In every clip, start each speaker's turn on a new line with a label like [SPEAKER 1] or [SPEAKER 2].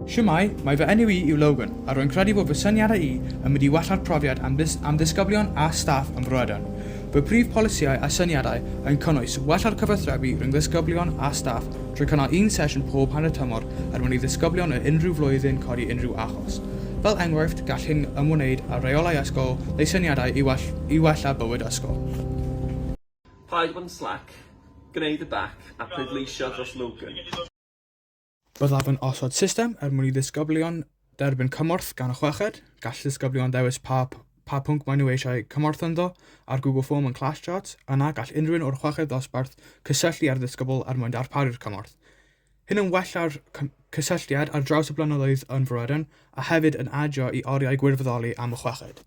[SPEAKER 1] Shwmae, mae fy enw i yw Logan, a rwy'n credu bod fy syniadau i yn mynd i wella'r profiad am, am ddisgyblion a staff ym Mhrydain. Fy prif polisïau a syniadau yn cynnwys wella'r cyfathrebu rhwng ddisgyblion a staff drwy cynnal un sesiwn pob hanner tymor er mwyn i ddisgyblion o unrhyw flwyddyn codi unrhyw achos. Fel enghraifft, gall hyn ymwneud â rheolau ysgol neu syniadau i, well, i wella bywyd ysgol.
[SPEAKER 2] Paid bod yn slac, gwneud y bac a pleidleisio dros Logan.
[SPEAKER 1] Byddaf yn osod system er mwyn i ddisgyblion dderbyn cymorth gan y chweched. Gall ddisgyblion ddewis pa pa pwnc maen nhw eisiau cymorth ynddo ar Google Form yn Class Charts. Yna, gall unrhyw un o'r chweched ddosbarth cysylltu â'r ddisgybl er mwyn darparu'r cymorth. Hyn yn wella'r cysylltiad ar draws y blynyddoedd yn Fryden a hefyd yn adio i oriau gwirfoddoli am y chweched.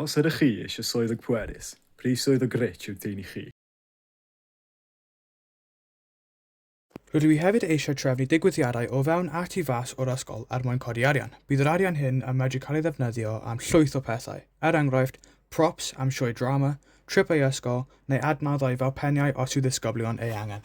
[SPEAKER 3] Os ydych chi eisiau swyddog pwerus, pryf swyddog rich yw'r dyn i chi.
[SPEAKER 1] Rydw i hefyd eisiau trefnu digwyddiadau o fewn a tu fas o'r ysgol er mwyn codi arian. Bydd yr arian hyn yn medru cael ei ddefnyddio am llwyth o pethau, er enghraifft, props am sioe drama, tripau ysgol, neu adnoddau fel peniau os yw ddisgyblion ei angen.